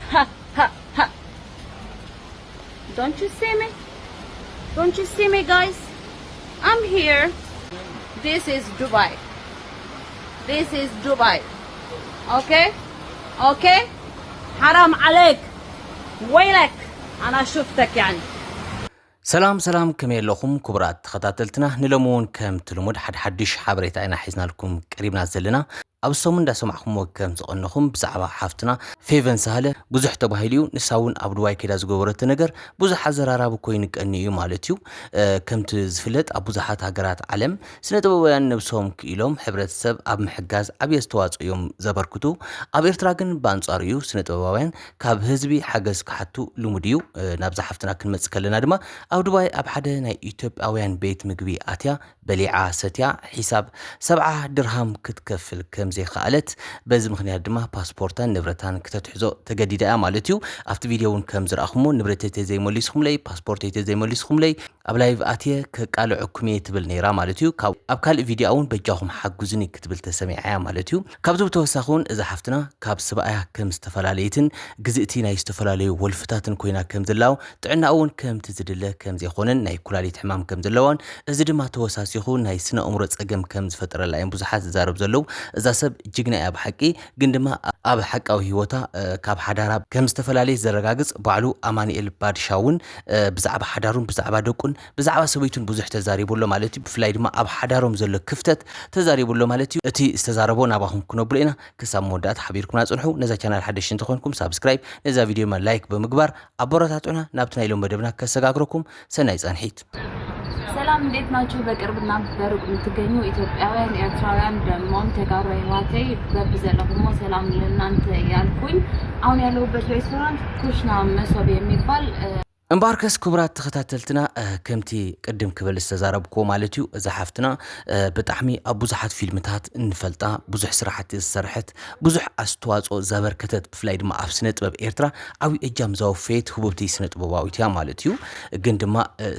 ሃእ ሃእ ሃእ ዶንት ዩ ሲ ሚ ዶንት ዩ ሲ ሚ ጋይስ ኣም ሂር ዲስ ኢዝ ዱባይ ዲስ ኢዝ ዱባይ ኦኬ ኦኬ ሓራም ዓለይክ ወይለክ ኣና ሹፍተክ ያኒ ሰላም ሰላም ከመይ ኣለኹም ክቡራት ተኸታተልትና ንሎሚ እውን ከምቲ ልሙድ ሓድሓድሽ ሓበሬታ ኢና ሒዝናልኩም ቀሪብና ዘለና ኣብ ሰሙን እንዳሰማዕኩምዎ ከም ዝቀነኹም ብዛዕባ ሓፍትና ፌቨን ሳህለ ብዙሕ ተባሂሉ እዩ ንሳ እውን ኣብ ዱባይ ከይዳ ዝገበረቶ ነገር ብዙሕ ኣዘራራቢ ኮይኑ ቀንዩ እዩ ማለት እዩ ከምቲ ዝፍለጥ ኣብ ብዙሓት ሃገራት ዓለም ስነ ጥበባውያን ነብሶም ክኢሎም ሕብረተሰብ ኣብ ምሕጋዝ ዓብይ ኣስተዋፅኦ እዮም ዘበርክቱ ኣብ ኤርትራ ግን ብኣንፃሩ እዩ ስነ ጥበባውያን ካብ ህዝቢ ሓገዝ ክሓቱ ልሙድ እዩ ናብዛ ሓፍትና ክንመፅእ ከለና ድማ ኣብ ዱባይ ኣብ ሓደ ናይ ኢትዮጵያውያን ቤት ምግቢ ኣትያ በሊዓ ሰትያ ሒሳብ ሰብዓ ድርሃም ክትከፍል ከም ዘይኸኣለት፣ በዚ ምኽንያት ድማ ፓስፖርታን ንብረታን ክተትሕዞ ተገዲዳ እያ ማለት እዩ። ኣብቲ ቪድዮ እውን ከም ዝረኣኹሞ ንብረተይ ተዘይመሊስኹምለይ፣ ፓስፖርተይ ተዘይመሊስኹምለይ ኣብ ላይቭ ኣትየ ከቃልዐኩም እየ ትብል ነይራ ማለት እዩ። ኣብ ካልእ ቪድዮኣ እውን በጃኹም ሓግዙኒ ክትብል ተሰሚዓ እያ ማለት እዩ። ካብዚ ብተወሳኺ እውን እዛ ሓፍትና ካብ ስብኣያ ከም ዝተፈላለየትን ግዝእቲ ናይ ዝተፈላለዩ ወልፍታትን ኮይና ከም ዘላው ጥዕናኣ እውን ከምቲ ዝድለ ከም ዘይኾነን ናይ ኩላሊት ሕማም ከም ዘለዋን እዚ ድማ ተወሳሲኹ ናይ ስነ ኣእምሮ ፀገም ከም ዝፈጠረላ እዮም ብዙሓት ዝዛረብ ዘለው እዛ ሰብ ጅግና እያ ብሓቂ ግን ድማ ኣብ ሓቃዊ ህይወታ ካብ ሓዳራ ከም ዝተፈላለየት ዘረጋግፅ ባዕሉ ኣማኒኤል ባድሻ እውን ብዛዕባ ሓዳሩን ብዛዕባ ደቁን ብዛዕባ ሰበይቱን ብዙሕ ተዛሪቡ ኣሎ ማለት እዩ ብፍላይ ድማ ኣብ ሓዳሮም ዘሎ ክፍተት ተዛሪቡ ኣሎ ማለት እዩ እቲ ዝተዛረቦ ናባኹም ክነብሎ ኢና ክሳብ መወዳእታ ሓቢርኩምና ጽንሑ ነዛ ቻናል ሓደሽቲ እንተኾንኩም ሳብስክራይብ ነዛ ቪድዮ ድማ ላይክ ብምግባር ኣቦራታቱና ናብቲ ናይ ሎም መደብና ከሰጋግረኩም ሰናይ ጻንሒት ሰላም እንዴት ናችሁ? በቅርብና በሩቅ የምትገኙ ኢትዮጵያውያን፣ ኤርትራውያን ደግሞም ተጋሩ ህዋተይ በቢ ዘለኹሞ ሰላም ለእናንተ ያልኩኝ። አሁን ያለሁበት ሬስቶራንት ኩሽና መሶብ የሚባል እምበኣርከስ ክቡራት ተኸታተልትና ከምቲ ቅድም ክብል ዝተዛረብክዎ ማለት እዩ እዛ ሓፍትና ብጣዕሚ ኣብ ብዙሓት ፊልምታት እንፈልጣ ብዙሕ ስራሕቲ ዝሰርሐት ብዙሕ ኣስተዋፅኦ ዘበርከተት ብፍላይ ድማ ኣብ ስነ ጥበብ ኤርትራ ዓብዪ እጃም ዘወፈየት ህቡብቲ ስነ ጥበባዊት እያ ማለት እዩ ግን ድማ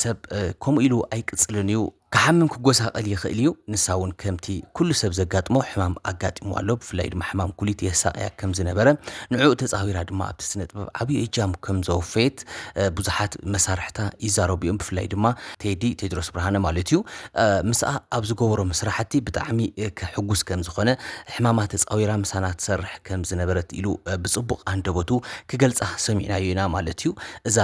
ሰብ ከምኡ ኢሉ ኣይቅፅልን እዩ ክሓምም ክጎሳቀል ይኽእል እዩ ንሳ ውን ከምቲ ኩሉ ሰብ ዘጋጥሞ ሕማም ኣጋጢምዋ ኣሎ ብፍላይ ድማ ሕማም ኩሊት የሳቅያ ከም ዝነበረ ንዕኡ ተጻዊራ ድማ ኣብቲ ስነጥበብ ዓብዩ እጃም ከም ዘወፈየት ብዙሓት መሳርሕታ ይዛረቡ እዮም ብፍላይ ድማ ቴዲ ቴድሮስ ብርሃነ ማለት እዩ ምስኣ ኣብ ዝገበሮም ስራሕቲ ብጣዕሚ ሕጉስ ከም ዝኾነ ሕማማ ተጻዊራ ምሳና ትሰርሕ ከም ዝነበረት ኢሉ ብጽቡቅ ኣንደበቱ ክገልጻ ሰሚዕናዮ ኢና ማለት እዩ እዛ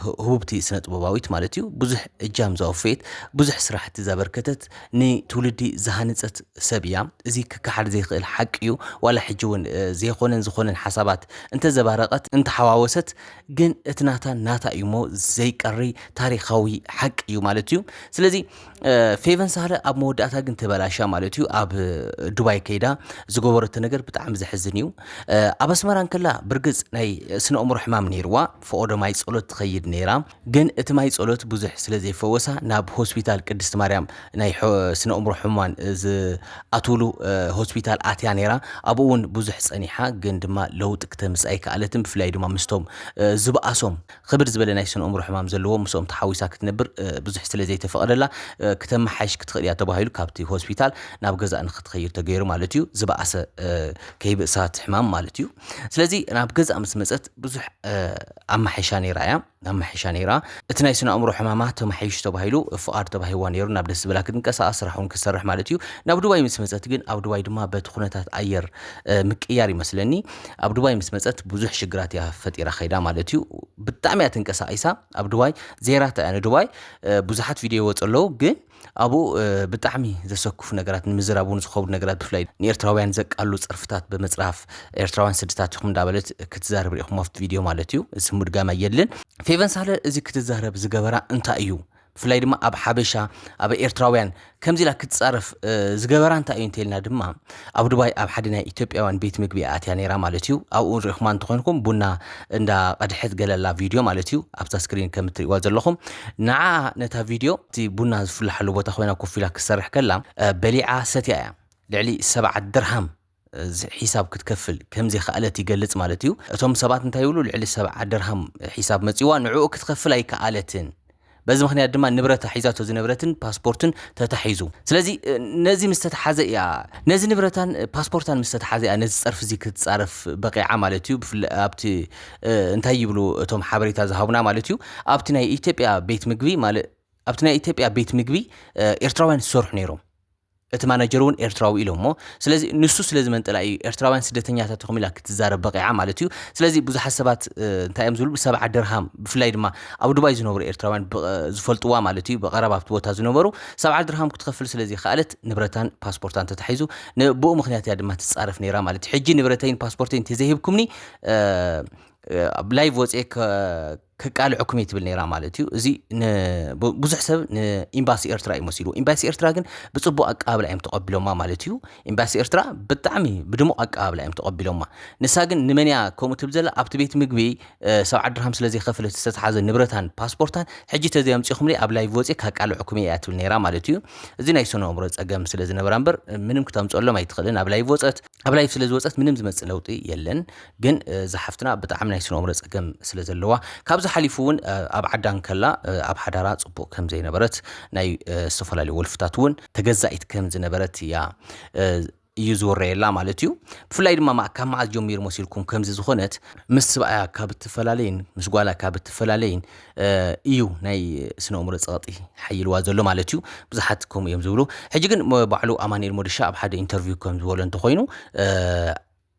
ህቡብቲ ስነጥበባዊት ማለት እዩ ብዙሕ እጃም ዘወፈየት፣ ብዙሕ ስራሕቲ ዘበርከተት፣ ንትውልዲ ዝሃነፀት ሰብ እያ። እዚ ክከሓድ ዘይክእል ሓቂ እዩ። ዋላ ሕጂ እውን ዘይኾነን ዝኾነን ሓሳባት እንተዘባረቐት፣ እንተሓዋወሰት ግን እቲ ናታ ናታ እዩ እሞ ዘይቀሪ ታሪኻዊ ሓቂ እዩ ማለት እዩ። ስለዚ ፌቨን ሳህለ ኣብ መወዳእታ ግን ተበላሻ ማለት እዩ። ኣብ ዱባይ ከይዳ ዝገበረቶ ነገር ብጣዕሚ ዘሕዝን እዩ። ኣብ ኣስመራ እንከላ ብርግፅ ናይ ስነ ኣእምሮ ሕማም ነይርዋ፣ ፈኦ ዶ ማይ ፀሎት ትኸይድ ነይራ። ግን እቲ ማይ ጸሎት ብዙሕ ስለ ዘይፈወሳ ናብ ሆስፒታል ቅድስቲ ማርያም ናይ ስነእምሮ ሕሙማን ዝኣትውሉ ሆስፒታል ኣትያ ነይራ ኣብኡ ውን ብዙሕ ጸኒሓ ግን ድማ ለውጢ ክተምጽእ ኣይከኣለትን ብፍላይ ድማ ምስቶም ዝብኣሶም ኽብድ ዝበለ ናይ ስነእምሮ ሕማም ዘለዎም ምስኦም ተሓዊሳ ክትነብር ብዙሕ ስለ ዘይተፈቐደላ ክተመሓይሽ ክትኽእል እያ ተባሂሉ ካብቲ ሆስፒታል ናብ ገዛእ ንኽትኸይድ ተገይሩ ማለት እዩ ዝብኣሰ ከይብእሳ እቲ ሕማም ማለት እዩ ስለዚ ናብ ገዛእ ምስ መጸት ብዙሕ ኣማሒሻ ነይራ እያ ኣማሒሻ ነይራ እቲ ናይ ስነ ኣእምሮ ሕማማ ተማሒሽ ተባሂሉ ፍቓድ ተባሂዋ ነይሩ ናብ ደስ ዝበላ ክትንቀሳቐስ ስራሕ እውን ክትሰርሕ ማለት እዩ ናብ ዱባይ ምስ መፀት ግን ኣብ ዱባይ ድማ በቲ ኩነታት ኣየር ምቅያር ይመስለኒ ኣብ ዱባይ ምስ መፀት ብዙሕ ሽግራት እያ ፈጢራ ከይዳ ማለት እዩ ብጣዕሚ እያ ተንቀሳቒሳ ኣብ ዱባይ ዜራታ እያ ንዱባይ ብዙሓት ቪድዮ ይወፁ ኣለዉ ግን ኣብኡ ብጣዕሚ ዘሰክፉ ነገራት ንምዝራብ እውን ዝኸብዱ ነገራት ብፍላይ ንኤርትራውያን ዘቃሉ ጸርፍታት ብምጽራፍ ኤርትራውያን ስድታት ኢኹም እንዳበለት ክትዛረብ ርኢኹም ኣብቲ ቪድዮ ማለት እዩ እዚ ምድጋም ኣየድልን ፌቨን ሳለ እዚ ክትዛረብ ዝገበራ እንታይ እዩ ብፍላይ ድማ ኣብ ሓበሻ ኣብ ኤርትራውያን ከምዚ ኢላ ክትጻረፍ ዝገበራ እንታይ እዩ እንተልና ድማ ኣብ ዱባይ ኣብ ሓደ ናይ ኢትዮጵያውያን ቤት ምግቢ እያ ኣትያ ነይራ ማለት እዩ ኣብኡ እውን ሪእኹማ እንተኾይንኩም ቡና እንዳ ቀድሐት ገለ ኣላ ቪድዮ ማለት እዩ ኣብዛ ስክሪን ከም እትሪእዋ ዘለኹም ንዓኣ ነታ ቪድዮ እቲ ቡና ዝፍላሓሉ ቦታ ኮይና ኮፍ ኢላ ክትሰርሕ ከላ በሊዓ ሰትያ እያ ልዕሊ ሰብዓ ድርሃም ሒሳብ ክትከፍል ከም ዘይከኣለት ይገልጽ ማለት እዩ እቶም ሰባት እንታይ ይብሉ ልዕሊ ሰብዓ ድርሃም ሒሳብ መጺዋ ንዕኡ ክትከፍል ኣይከኣለትን በዚ ምኽንያት ድማ ንብረታ ሒዛቶ ዝነበረትን ፓስፖርትን ተታሒዙ። ስለዚ ነዚ ምስ ተታሓዘ እያ ነዚ ንብረታን ፓስፖርታን ምስ ተታሓዘ እያ ነዚ ጸርፊ እዚ ክትጻረፍ በቒዓ ማለት እዩ። ብፍላይ ኣብቲ እንታይ ይብሉ እቶም ሓበሬታ ዝሃቡና ማለት እዩ ኣብቲ ናይ ኢትዮጵያ ቤት ምግቢ ማለ ኣብቲ ናይ ኢትዮጵያ ቤት ምግቢ ኤርትራውያን ዝሰርሑ ነይሮም። እቲ ማናጀር እውን ኤርትራዊ ኢሎሞ ስለዚ ንሱ ስለ ዝመንጠላ እዩ ኤርትራውያን ስደተኛታት ኢኹም ኢላ ክትዛረብ በቒዓ ማለት እዩ ስለዚ ብዙሓት ሰባት እንታይ እዮም ዝብሉ ብሰብዓ ድርሃም ብፍላይ ድማ ኣብ ዱባይ ዝነብሩ ኤርትራውያን ዝፈልጥዋ ማለት እዩ ብቐረባ ኣብቲ ቦታ ዝነበሩ ሰብዓ ድርሃም ክትከፍል ስለ ዘይከኣለት ንብረታን ፓስፖርታን ተታሒዙ ንብኡ ምክንያት እያ ድማ ትጻረፍ ነይራ ማለት እዩ ሕጂ ንብረተይን ፓስፖርተይን እንተዘይሂብኩምኒ ኣብ ላይቭ ወፅኤ ከቃልዐኩም እየ ትብል ነይራ ማለት እዩ። እዚ ብዙሕ ሰብ ንኤምባሲ ኤርትራ እዩ መሲልዎ። ኤምባሲ ኤርትራ ግን ብጽቡቕ ኣቀባብላ እዮም ተቐቢሎማ ማለት እዩ። ኤምባሲ ኤርትራ ብጣዕሚ ብድሙቕ ኣቀባብላ እዮም ተቐቢሎማ። ንሳ ግን ንመን እያ ከምኡ ትብል ዘላ ኣብቲ ቤት ምግቢ ሰብዓ ድርሃም ስለ ዘይከፈለት ዝተትሓዘ ንብረታን ፓስፖርታን ሕጂ ተዘይ ኣምጺኹምለይ ኣብ ላይቭ ወጽየ ካቃልዐኩም እየ እያ ትብል ነይራ ማለት እዩ። እዚ ናይ ስነ ኣእምሮ ጸገም ስለ ዝነበራ እምበር ምንም ክተምጽኣሎም ኣይትኽእልን ኣብ ላይቭ ወጸት ኣብ ላይቭ ስለ ዝወፀት ምንም ዝመፅእ ለውጢ የለን ግን እዛ ሓፍትና ብጣዕሚ ናይ ስነኦምረ ፀገም ስለ ዘለዋ ካብዚ ሓሊፉ እውን ኣብ ዓዳ እንከላ ኣብ ሓዳራ ፅቡቅ ከም ዘይነበረት ናይ ዝተፈላለዩ ወልፍታት እውን ተገዛኢት ከም ዝነበረት እያ እዩ ዝወረየላ ማለት እዩ ብፍላይ ድማ ማ- ካብ መዓዝ ጀሚሩ መሲልኩም ከምዚ ዝኾነት ምስ ስብኣያ ካብ እትፈላለይን ምስ ጓላ ካብ እትፈላለይን እዩ ናይ ስነእእምሮ ጸቕጢ ሓይልዋ ዘሎ ማለት እዩ ብዙሓት ከምኡ እዮም ዝብሉ ሕጂ ግን ባዕሉ ኣማኒኤል ሞድሻ ኣብ ሓደ ኢንተርቪው ከም ዝበሎ እንተኾይኑ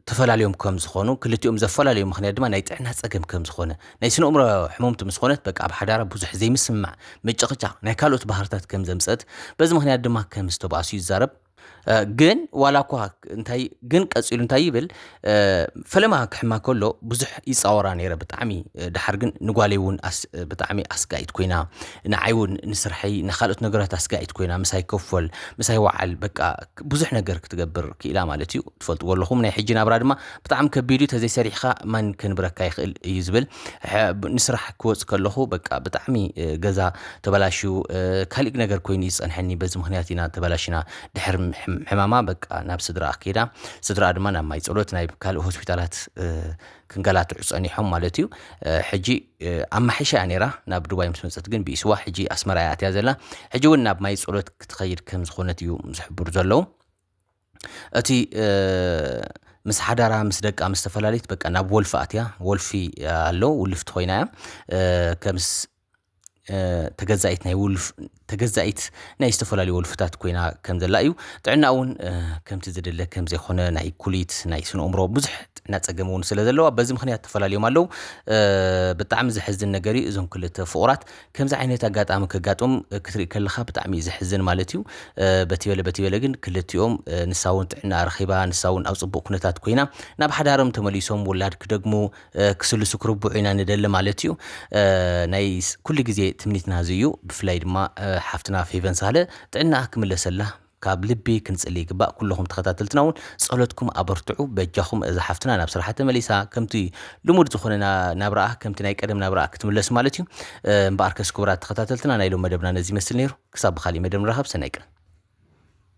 ተፈላለዮም ከም ዝኾኑ ክልቲኦም ዘፈላለዩ ምክንያት ድማ ናይ ጥዕና ጸገም ከም ዝኾነ ናይ ስነእምሮ ሕመምቲ ምስ ኾነት በቃ ኣብ ሓዳራ ብዙሕ ዘይምስምማዕ ምጭቕጫቕ ናይ ካልኦት ባህርታት ከም ዘምጸት በዚ ምክንያት ድማ ከም ዝተባእሱ ይዛረብ ግን ዋላ እኳ እንታይ ግን ቀፂሉ እንታይ ይብል ፈለማ ክሕማ ከሎ ብዙሕ ይፃወራ ነይረ ብጣዕሚ ድሓር ግን ንጓለይ እውን ብጣዕሚ ኣስጋኢት ኮይና ንዓይ እውን ንስርሐይ ንካልኦት ነገራት ኣስጋኢት ኮይና ምሳይ ከፈል ምሳይ ወዓል በቃ ብዙሕ ነገር ክትገብር ክኢላ ማለት እዩ ትፈልጥዎ ኣለኹም ናይ ሕጂ ናብራ ድማ ብጣዕሚ ከቢድ እዩ ተዘይ ሰሪሕኻ ማን ከንብረካ ይኽእል እዩ ዝብል ንስራሕ ክወፅ ከለኹ በቃ ብጣዕሚ ገዛ ተበላሽዩ ካሊእ ነገር ኮይኑ እዩ ዝፀንሐኒ በዚ ምክንያት ኢና ተበላሽና ድሕር ሕማማ በቃ ናብ ስድራኣ ከይዳ ስድራኣ ድማ ናብ ማይ ፀሎት ናይ ካልእ ሆስፒታላት ክንገላትዑ ፀኒሖም ማለት እዩ ሕጂ ኣብ ማሕሻ እያ ነይራ ናብ ዱባይ ምስ መፀት ግን ብኢስዋ ሕጂ ኣስመራ እያ ኣትያ ዘላ ሕጂ እውን ናብ ማይ ፀሎት ክትኸይድ ከም ዝኾነት እዩ ዝሕብሩ ዘለዉ እቲ ምስ ሓዳራ ምስ ደቃ ምስ ተፈላለዩት በቃ ናብ ወልፊ ኣትያ ወልፊ ኣሎ ውልፍቲ ኮይና እያ ከምስ ተገዛኢት ናይ ውልፍ ተገዛኢት ናይ ዝተፈላለዩ ወልፍታት ኮይና ከም ዘላ እዩ ጥዕና እውን ከምቲ ዝድለ ከም ዘይኮነ ናይ ኩሊት ናይ ስነ እምሮ ብዙሕ ጥዕና ፀገም እውን ስለ ዘለዋ በዚ ምክንያት ተፈላለዮም ኣለዉ ብጣዕሚ ዘሕዝን ነገር እዩ እዞም ክልተ ፍቑራት ከምዚ ዓይነት ኣጋጣሚ ከጋጥም ክትርኢ ከለኻ ብጣዕሚ እዩ ዘሕዝን ማለት እዩ። በቲ በለ በቲ በለ ግን ክልቲኦም ንሳ እውን ጥዕና ረኺባ ንሳ እውን ኣብ ፅቡቕ ኩነታት ኮይና ናብ ሓዳሮም ተመሊሶም ውላድ ክደግሙ ክስልሱ ክርብዑ ኢና ንደሊ ማለት እዩ። ናይ ኩሉ ግዜ ትምኒትና እዚ እዩ። ብፍላይ ድማ ሓፍትና ፌቨን ሳህለ ጥዕናኣ ክምለሰላ ካብ ልቢ ክንጽሊ ይግባእ ኩሉኹም ተኸታተልትና ውን ጸሎትኩም ኣበርትዑ በጃኹም እዛ ሓፍትና ናብ ስራሓ ተመሊሳ ከምቲ ልሙድ ዝኾነ ናብራኣ ከምቲ ናይ ቀደም ናብራኣ ክትምለስ ማለት እዩ እምበኣርከስ ክቡራት ተኸታተልትና ናይ ሎም መደብና ነዚ ይመስል ነይሩ ክሳብ ብኻሊእ መደብ ንራኸብ ሰናይ ቀን